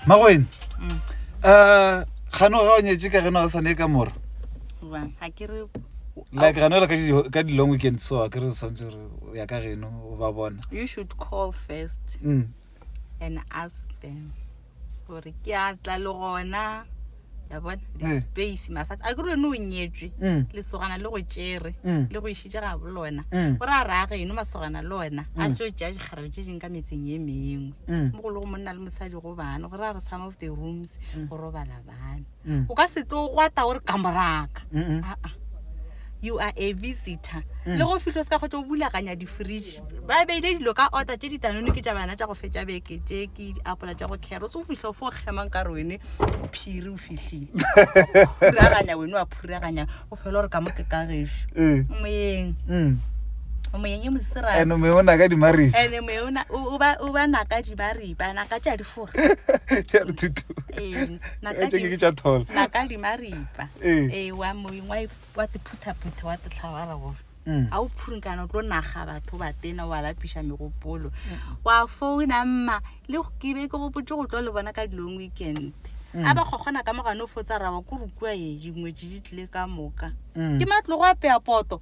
magoeng um gano ga o nyetse ka geno ga sane ka mora like gano la ka di-long weekend so a kere o tshwanetse gore o ya ka geno o ba bona mm. gore ke a tla le gona ya bona Eh. di-space mafatshe a kere yone o nyetswe Mm. lesogana le go tšere Mm. le go išitše ga bolona Mm. gore a raya geno masogana le ona a tso tšea dikgarebe tše dingwe ka metseng e mengwe Mm. mo go le go monna le mosadi go bana gore a re some of the rooms go robala bana mm. o ka se tlo gwata gore ka moraka aa you are a visitor mm. le go fitlho se ka go tlo bulakanya di-fridge ba beile dilo ka order tse ditanone ke tša bana tša go fetša beke tse ke diapola tša go caro se o fitlho fo kgemang ka re wene o phiri o fitlhile phuraganya wene wa phuraganya o fela gore ka mo ke ka gešo eh. moyeng mm. moyeng e mosirane moye o naka dimaribe ene moye o ba naka dimaribe a naka tša difora tše ke tša thola nakadimaripa ee eh, wa moeng wa tiphuthaphutha wa titlhabara gore mm. ga o phurinkana o tlo naga batho ba tena wa lapiša megopolo mm. wa founa mma le ke be ke gopotse go tlo le bona ka dilong weekend mm. a ba kgokgona ka mogane o fotsa raba ko rukua e dingwetse di tlile ka moka ke matlogo a peya poto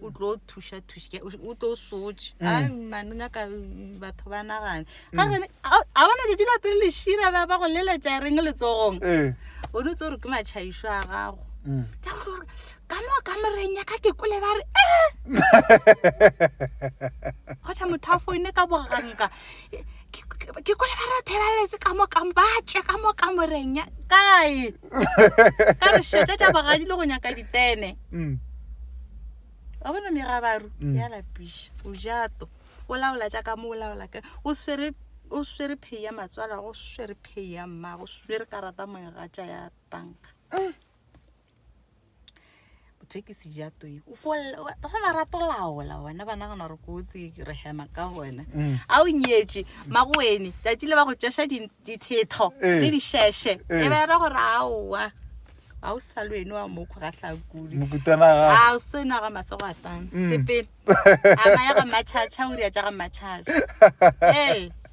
o tlo thuša thuša o tlo sotše mm. a mane o nyaka batho ba nagane mm. ga gone a bona jeje la pele lešira ba ba go leletša reng letsogong eh. o ne tse gore ke matšhaišo a gago mm. ja go gore ka mo ka moreng ya ka ke kole ba re e eh! kgotšha motho a foine ka boganka ke kwele ba rothe ba letse ka mo kang ba tše ka mo ka moreng ya kae ka re šetša tša bogadi le go nyaka ditene mm. wa bona megabaru mm. ya lapiša o jato o laola tša ka mo o laola ka o swere o swere phei ya matswala go swere phei ya mmago swere karata moegatša ya banka mm. bothekisi ja toi o folela fela rato laola wena ba nagana gore kotsi re hema ka wena Mm. a o nyetše magoene tšatši le ba go tšweša di- dithetho Eh. le dišešhe Eh. e bera gore aowa ga o sa lwene wa mokgo ga tlhakudi mokutwana ga a o seno ya ga masegwatana Mm. sepele a maya ga matšhatšha o ria tša ga matšhatšha ee